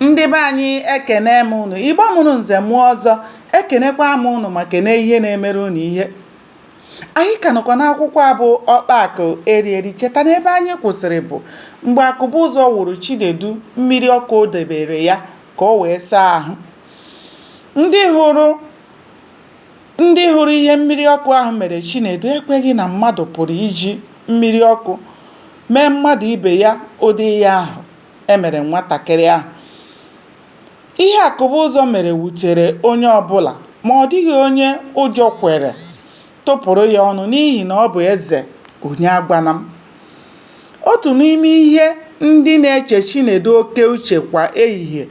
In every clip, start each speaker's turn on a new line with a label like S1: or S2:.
S1: ndị be anyị ekene m ụnụ igbo mụrụ nze mụọ ọzọ ekenekwa m ụnụ ma kene ihe na-emere ụnụ ihe anyị ka nọkwa n'akwụkwọ a bụ ọkpa akụ eri eri cheta na ebe anyị kwụsịrị bụ mgbe akụbụzọ wụrụ chinedu mmiri ọkụ o debere ya ka o wee saa ahụ ndị hụrụ ihe mmiri ọkụ ahụ mere chinedu ekweghị na mmadụ pụrụ iji mmiri ọkụ mee mmadụ ibe ya ụdị ihe ahụ e mere nwatakịrị ahụ. Ihe Akụbụzọ mere wutere onye ọbụla ma ọ dịghị onye ụjọ kwere tụpụrụ ya ọnụ n'ihi na ọ bụ eze onye agwana m. Otu n'ime ihe ndị na-eche Chinedu oke uche kwa ehihie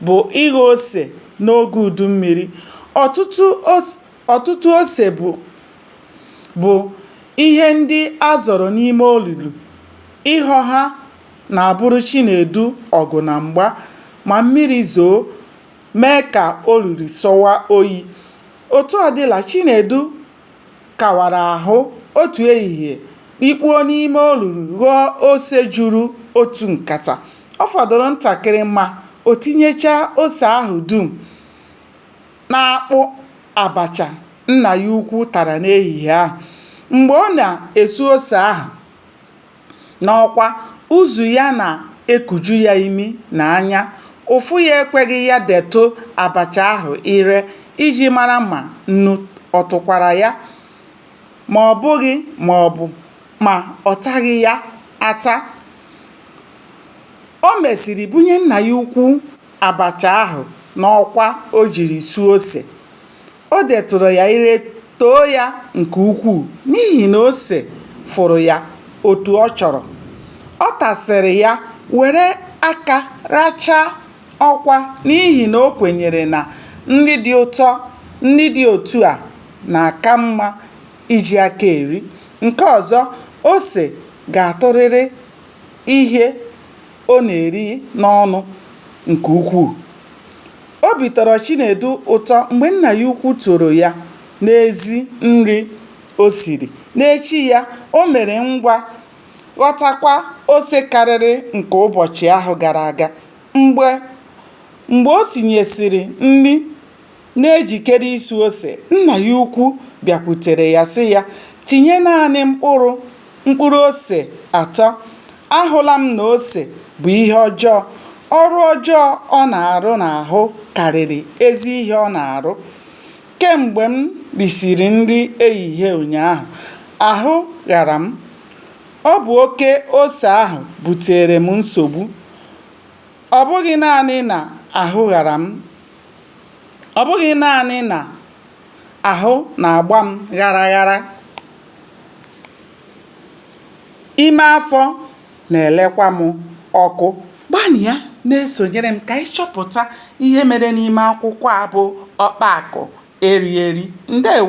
S1: bụ ịghọ ose n'oge udu mmiri. Ọtụtụ ose bụ ihe ndị a zọrọ n'ime olulu. Ịghọ ha na-abụrụ Chinedu ọgụ na mgba ma mmiri zoo mee ka olulu sọwa oyi. Otu ọ dịla, Chinedu kawara ahụ otu ehihie, rikpuo n'ime olulu ghọọ ose juru otu nkata. Ọ fọdụrụ ntakịrị ma o tinyechaa ose ahụ dum n'akpụ abacha nna ya ukwu tara n'ehihie ahụ. Mgbe ọ na-esu ose ahụ, n'ọkwa, uzu ya na-ekuju ya imi na anya, ụfụ ya ekweghị ya detụ abacha ahụ ire iji mara ma nnu ọ tụkwara ya ma ọ bụghị maọbụ ma ọ taghị ya ata. O mesịrị bunye nna ya ukwu abacha ahụ n'ọkwa o jiri suo ose. O detụrụ ya ire too ya nke ukwuu n'ihi na ose fụrụ ya otu ọ chọrọ. Ọ tasịrị ya were aka rachaa ọkwa n'ihi na o kwenyere na nri dị ụtọ nri dị otu a na-aka mma iji aka eri. Nke ọzọ, ose ga-atụrịrị ihe. ọ na-eri n'ọnụ nke ukwuu. Obi tọrọ Chinedu ụtọ mgbe nna ya ukwu toro ya n'ezi nri o siri. N'echi ya, o mere ngwa ghọtakwa ose karịrị nke ụbọchị ahụ gara aga. Mgbe o sinyesịrị nri na-ejikere isu ose, nna ya ukwu bịakwutere ya sị ya, Tinye naanị mkpụrụ mkpụrụ ose atọ. Ahụla m na ose bụ ihe ọjọọ. Ọrụ ọjọọ ọ na-arụ n'ahụ karịrị ezi ihe ọ na-arụ. Kemgbe m risiri nri ehihie ụnyaahụ, ahụ ghara m. Ọ bụ oke ose ahụ buteere m nsogbu. Ọ bụghị naanị na ahụ ghara m, Ọ bụghị naanị na ahụ na-agba m ghara ghara, ime afọ na-elekwa m ọkụ. Gbanịa na-esonyere m ka anyị chọpụta ihe mere n'ime akwụkwọ a bụ Ọkpa Akụ Eri Eri. Ndewo.